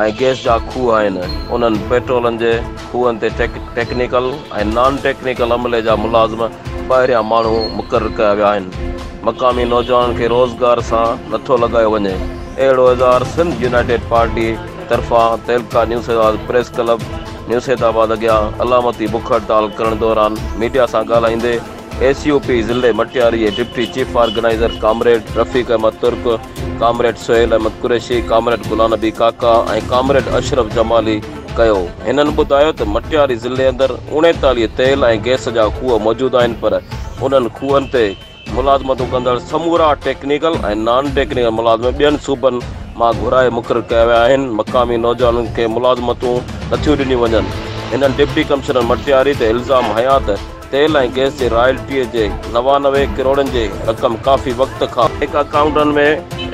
۽ Gas جا کوهه آهن، انهن پيٽرولن جي کوهن تي ٽيڪنيڪل ۽ نان ٽيڪنيڪل عملي جا ملازم ٻاهريان ماڻهو مقرر ڪيا ويا آهن، مقامي نوجوانن کي روزگار سان نٿو لڳايو وڃي، اهڙو اظهار سنڌ يونائيٽيڊ پارٽي طرفان تعلقه نيوسيدآباد پريس ڪلب نيوسيدآباد اڳيان علامتي بک هڙتال ڪرڻ دوران ميڊيا سان ڳالهائيندي ايس يو پي ضلعي مٽياري جي deputy chief organiser comrade Rafiq Ahmed Turk comrade Sohail Ahmed Qureshi, comrade Ghulam Nabi Kaka ۽ comrade Ashraf Jamali ڪيو. هنن ٻڌايو ته مٽياري ضلعي اندر اوڻيتاليهه تيل ۽ گئس جا کوهه موجود آهن پر انهن کوهن تي ملازمتون ڪندڙ سمورا ٽيڪنيڪل ۽ نان ٽيڪنيڪل ملازم ٻين صوبن مان گهرائي مقرر ڪيا ويا آهن، مقامي نوجوانن کي ملازمتون نٿيون ڏنيون وڃن. هنن ڊپٽي ڪمشنر مٽياري تي الزام هنيا ته تيل ۽ گئس جي رائلٽيء جي نوانوي ڪروڙن جي رقم ڪافي وقت کان بئنڪ اڪائونٽن ۾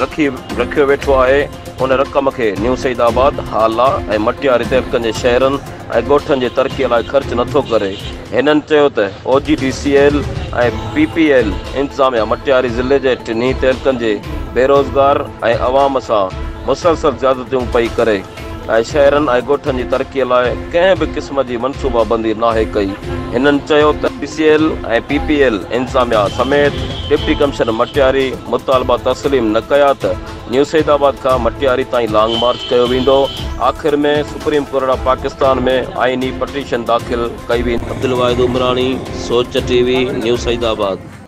رکي رکيو ويٺو آهي، ان رقم کي نيو سعيد آباد، هالا ۽ مٽياري تعلقن جي شهرن ۽ ڳوٺن جي ترقيء لاء خرچ نٿو ڪري. هنن چيو ته O G D C L ۽ P P L انتظاميا مٽياري ضلعي جي ٽنهي تعلقن جي بيروزگار ۽ عوام سان مسلسل زيادتيون پئي ڪري، ۽ شهرن ۽ ڳوٺن جي ترقي لاء ڪنهن به قسم جي منصوبا بندي ناهي ڪئي هنن چيو ته P C L ۽ P P L انتظاميا سميت ڊپٽي ڪمشنر مٽياري مطالبا تسليم نه ڪيا ته نيو سيد آباد کان مٽياري تائين لانگ مارچ ڪيو ويندو آخر ۾ سپريم ڪورٽ آف پاڪستان ۾ آئيني پٽيشن داخل ڪئي ويندي. عبدالواحد عمراڻي، سوچ ٽي وي، نيو سيد آباد.